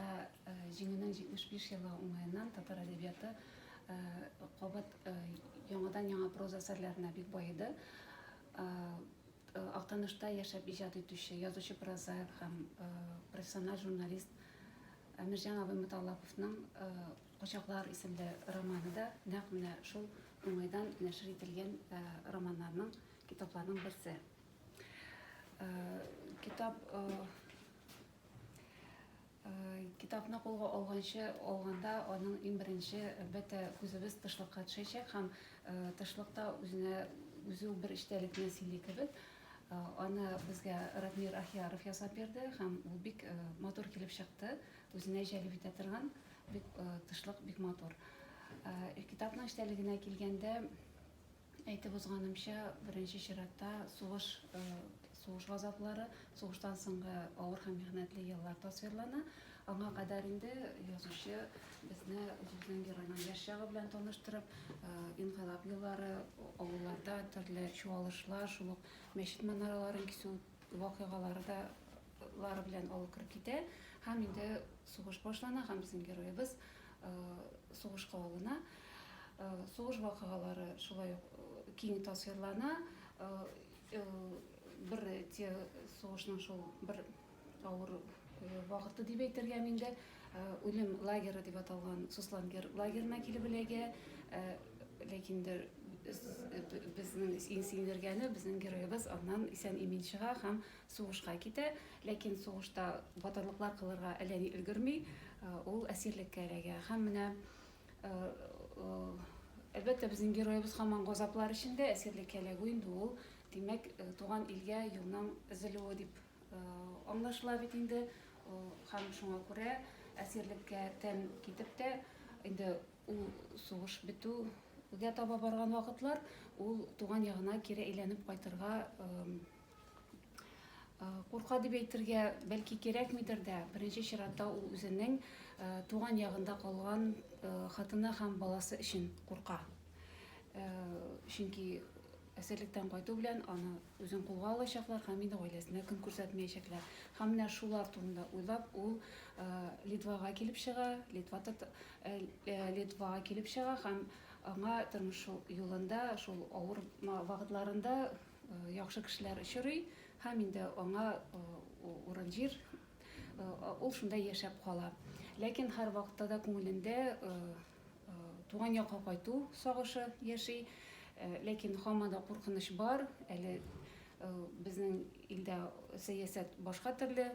Ә Җиңүнең 75 елы уңаеннан татар әдәбияты кабат яңадан-яңа проза әсәрләренә бик баеды. Актанышта яшәп иҗат итүче, язучы прозаик һәм профессиональ журналист Әмирҗан абый Муталлаповның Кочаклар исемле романы да нәкъ менә шул уңайдан нәшер ителгән романнарның, китапларның берсе. Китап китапны кулга алганчы алганда аның иң беренче әлбәттә күзебез тышлыкка төшәчәк һәм тышлыкта үзенә үзе бер эчтәлекне сөйли кебек аны безгә радмир ахияров ясап бирде һәм ул бик матур килеп чыкты үзенә җәлеп итә торган бик тышлык бик матур китапның эчтәлегенә килгәндә Әйтеп узганымча, беренче чиратта сугыш, сугыш газаплары, сугыштан соңгы авыр һәм михнәтле еллар тасвирлана. Аңа кадәр инде язучы безне үзебезнең геройның яшь чагы белән таныштырып, инкыйлаб еллары, авылларда төрле чуалышлар, шул ук мәчет манараларын кисү вакыйгалары да лары белән авыл кереп китә һәм инде сугыш башлана һәм безнең героебыз сугышка алына. Сугыш вакыйгалары шулай ук киң тасвирлана. Бер те сугышның шул бер авыр вакыты дип әйтергә инде үлем лагеры дип аталган Суслангер лагерына килеп эләгә. Ләкин дә безнең иң синдергәне безнең героебыз аннан исән-имин чыга һәм Сугышка китә, ләкин сугышта батырлыклар кылырга әләни өлгерми, ул әсирлеккә эләгә. Һәм менә, әлбәттә, безнең героебыз һаман газаплар эчендә, әсирлеккә эләгү инде ул, димәк, туган илгә юлның өзелүе дип аңлашыла бит инде. Һәм шуңа күрә әсирлеккә тән китеп тә, инде ул сугыш бетүгә таба барган вакытлар, ул туган ягына кире әйләнеп кайтырга Курка дип әйтергә бәлки кирәкмидер дә, беренче чиратта ул үзенең туган ягында калган хатыны һәм баласы өчен курка. Чөнки әсирлектән кайту белән аны үзен кулга алачаклар һәм инде гаиләсенә көн күрсәтмәячәкләр. Һәм менә шулар турында уйлап, ул Литвага килеп чыга, Литва Литвага килеп чыга һәм аңа тормыш юлында, шул авыр вакытларында яхшы кешеләр очрый һәм инде аңа урын җир ул шунда яшәп кала ләкин һәрвакытта да күңелендә туган якка кайту сагышы яши ләкин һаман да куркыныч бар әле безнең илдә сәясәт башка төрле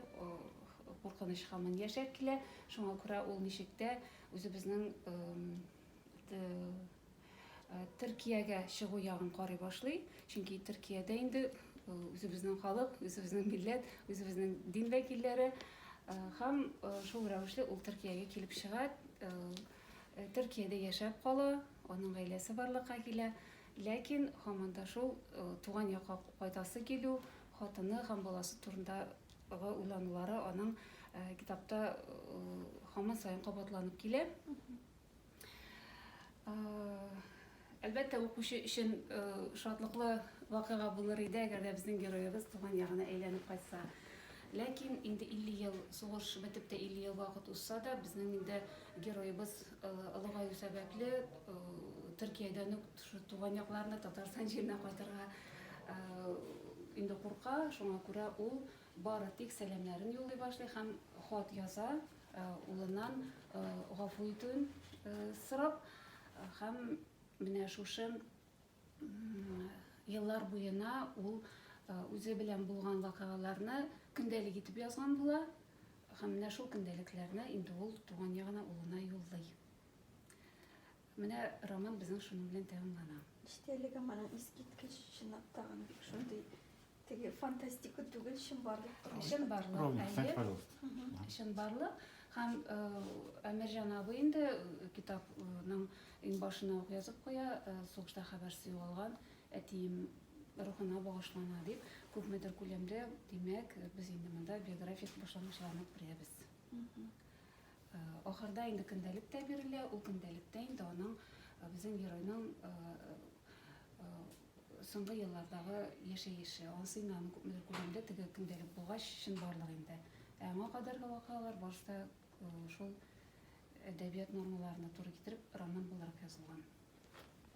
куркыныч һаман яшәп килә шуңа күрә ул ничек тә үзебезнең Төркиягә чыгу ягын карый башлый, чөнки Төркиядә инде үзебезнең халык, үзебезнең милләт, үзебезнең дин вәкилләре һәм шул рәвешле ул Төркиягә килеп чыга, Төркиядә яшәп кала, аның гаиләсе барлыкка килә, ләкин һаман да шул туган якка кайтасы килү, хатыны һәм баласы турындагы уйланулары аның китапта һаман саен кабатланып килә. Әлбәттә, укучы өчен шатлыклы вакыйга булыр иде, әгәр дә безнең героебыз туган ягына әйләнеп кайтса. Ләкин инде 50 ел сугыш бетеп тә 50 ел вакыт узса да, безнең инде героебыз олыгаю сәбәпле Төркиядән үк туган якларына, Татарстан җиренә кайтырга инде курка. Шуңа күрә ул бары тик сәламнәрен юллый башлый һәм хат яза. Улыннан гафу итүен сорап һәм менә шушы еллар буена ул үзе белән булган вакыйгаларны көндәлек итеп язган була һәм менә шул көндәлекләрне инде ул туган ягына улына юллый. Менә роман безнең шуның белән тәмамлана. Эчтәлегем аның искиткеч, чынлап та гына бик шундый теге фантастика түгел, чынбарлык тормыш. Чынбарлык, Ровно, әйе. кстати, пожалуйста. Мгм. Чынбарлык һәм э, Әмирҗан абый инде э, китапның иң башына ук язып куя, э, сугышта хәбәрсез югалган әтием рухына багышлана дип, күпмедер күләмдә, димәк, э, без инде монда биографик башлангычларны күрәбез. Мгм. Ахырда инде көндәлек тә бирелә, ул көндәлектә инде аның безнең геройның соңгы еллардагы яшәеше, аңа сыймый аны күпмедер күләмдә теге көндәлек булгач чынбарлык инде. Ә аңа кадәрге вакыйгалар барысы да шул әдәбият нормаларына туры китереп роман буларак язылган.